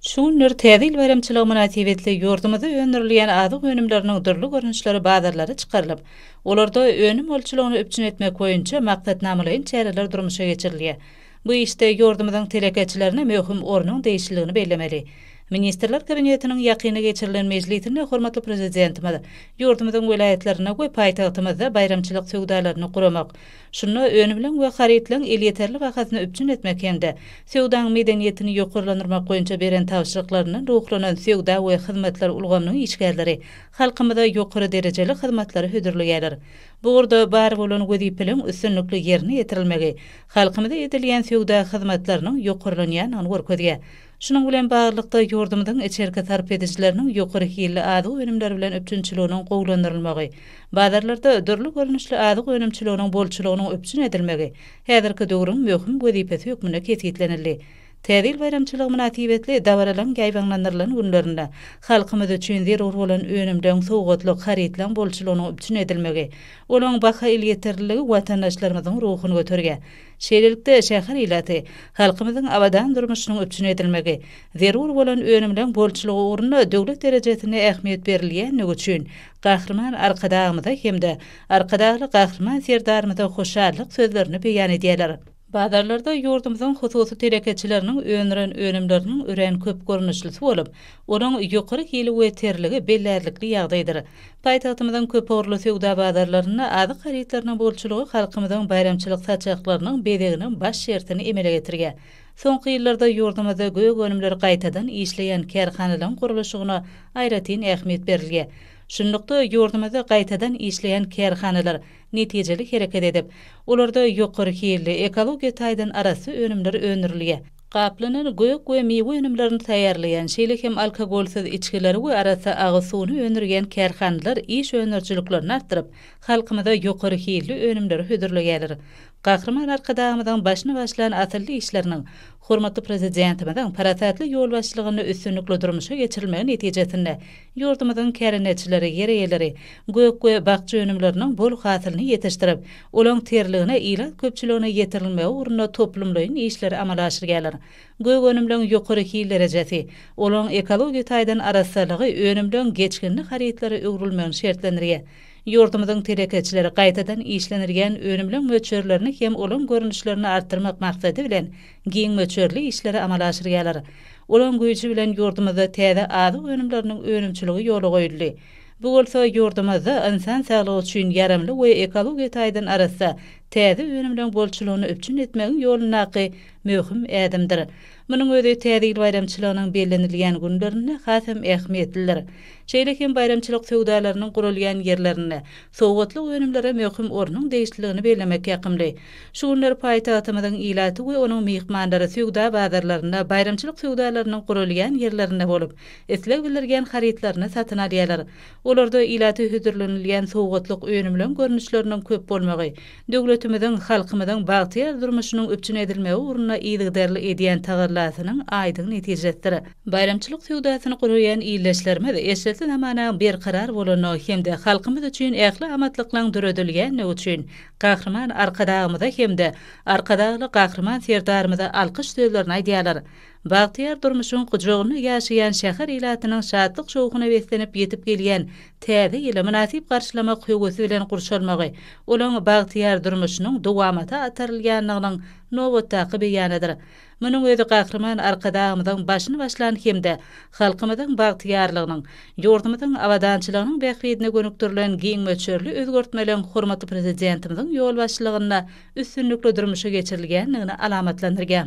Şu günler Täze ýyl baýramçylygy mynasybetli ýurdumyzda öndürilýän azyk önümleriniň dürli görnüşleri bazarlara çykarylyp, olarda önüm bolçulygyny üpjün etmek boýunça maksatnamalaýyn çäreler durmuşa geçirilýär. Bu işde ýurdumyzyň telekeçilerine möhüm ornuň degişliligini bellemeli. Ministrler Kabinetiniň ýakynda geçirilen mejlisinde hormatly Prezidentimiz ýurdumyzyň welaýatlarynda we paýtagtymyzda baýramçylyk söwdalaryny guramak, Şunda önümleň we harytlaň elýeterli bahasyny üpjün etmek hem-de söwdaň medeniýetini ýokarlandyrmak boýunça beren tabşyryklaryndan ruhlanan söwda we hyzmatlar ulgamynyň işgärleri halkymyza ýokary derejeli hyzmatlary hödürleýärler. Bu ugurda bar bolan wezipeleň üstünlikli ýerine ýetirilmegi halkymyza edilýän söwda hyzmatlarynyň ýokarlanýandygyny görkezýär. Şunuň bilen baglylykda, ýurdumyzyň içerki sarp edijileriniň ýokary hilli azyk önümleri bilen üpjünçiliginiň gowulandyrylmagy, bazarlarda dürli görnüşli azyk önümçiliginiň bolçulygynyň üpjün edilmegi häzirki döwrüň möhüm wezipesi hökmünde kesgitlenildi. Täze ýyl baýramçylygy mynasybetli dabaralaryň ýaýbaňlandyrylan günlerinde halkymyz üçin zerur bolan önümleň, sowgatlyk harytlaryň bolçulygynyň üpjün edilmegi, olaryň baha elýeterliligi watandaşlarymyzyň ruhuny göterýär. Şeýlelikde, şäher ilaty, halkymyzyň abadan durmuşynyň üpjün edilmegi, zerur bolan önümleň bolçulygy ugrunda döwlet derejesinde ähmiýet berilýändigi üçin Gahryman Arkadagymyza hem-de Arkadagly Gahryman Serdarymyza hoşallyk sözlerini beýan edýärler. Bazarlarda ýurdumyzyň hususy telekeçileriniň öndüren önümleriniň örän köp görnüşlisi bolup, olaň ýokary hili we terligi bellärlikli ýagdaýdyr. Paýtagtymyzyň köpugurly söwda bazarlarynda azyk harytlarynyň bolçulygy halkymyzyň baýramçylyk saçaklarynyň bezeginiň baş şertini emele getirýär. Soňky ýyllarda ýurdumyzda gök önümleri gaýtadan işleýän kärhanalaryň gurluşygyna aýratyn ähmiýet berilýär. Şunlukda, ýurdumyzda gaýtadan işleýän kärhanalar netijeli hereket edip, olarda ýokary hilli, ekologiýa taýdan arassa önümler öndürilýär. gaplanan gök we miwe önümlerini taýýarlaýan, şeýle hem alkogolsyz içgileri we arassa agyz suwuny öndürýän kärhanalar iş öndürijiliklerini artdyryp, halkymyza ýokary hilli önümleri hödürleýärler. Gahryman Arkadagymyzyň başyny başlan asylly işleriniň, hormatly Prezidentimiziň parasatly ýolbaşçylygynda üstünlikli durmuşa geçirilmegi netijesinde ýurdumyzyň kärendeçileri, ýer eýeleri gök we bakja önümleriniň bol hasylyny ýetişdirip, Olaň terligine ilat köpçüligine ýetirilmegi ugrunda toplumlaýyn işleri amala aşyrýarlar. Gök önümleň ýokary hil derejesi, olaň ekologiýa taýdan arassalygy önümleň geçginli harytlara öwrülmegini şertlendirýär. Ýurdumyzyň telekeçileri gaýtadan işlenilýän önümleň möçberlerini hem olaň görnüşlerini artdyrmak maksady bilen giň möçberli işleri amala aşyrýarlar. Olaň güýji bilen ýurdumyzda täze azyk önümleriniň önümçiligi ýola goýuldy. Bu bolsa ýurdumyzda ynsan saglygy üçin ýaramly we ekologiýa taýdan arassa täze önümleriň bolçulygyny üpjün etmegiň ýolundaky möhüm ädimdir. Munuň özi Täze ýyl baýramçylygynyň bellenilýän günlerinde has hem ähmiýetlidir. Şeýle hem baýramçylyk söwdalarynyň guralýan ýerlerinde sowgatlyk önümlere möhüm ornuň degişliligini bellemek ýakymly. Şu günler paýtagtymyzyň ilaty we onuň myhmanlary söwda bazarlarynda, baýramçylyk söwdalarynyň guralýan ýerlerinde bolup, isleg bildirgen harytlaryny satyn alýarlar. Olarda ilata hödürlenilýän sowgatlyk önümleň görnüşleriniň köp bolmagy, döwletimiziň, halkymyzyň bagtyýar durmuşynyň üpjün edilmegi ugrunda yzygiderli edýän tagallasynyň aýdyň netijesidir. Baýramçylyk söwdasyny guraýan ildeşlerimiz eşretli zamanaň berkarar bolandygy hem-de halkymyz üçin ähli amatlyklygyň döredilýändigi üçin Gahryman Arkadagymyza hem-de Arkadagly Gahryman Serdarymyza alkyş sözlerini aýdýarlar. Bagtyýar durmuşyň gujagynda ýaşaýan şäher ilatynyň şatlyk-şowhuna beslenip ýetip gelýän Täze ýyly mynasyp garşylamak höwesi bilen gurşalmagy olaň bagtyýar durmuşynyň dowamata atarylýandygynyň nobatdaky beýanydyr. Munuň özi Gahryman Arkadagymyzyň başyny başlan hem-de halkymyzyň bagtyýarlygynyň, ýurdumyzyň abadançylygynyň bähbidine gönükdirilen giň möçberli özgertmeleriň hormatly Prezidentimiziň ýolbaşçylygynda üstünlikli durmuşa geçirilýändigini alamatlandyrýar.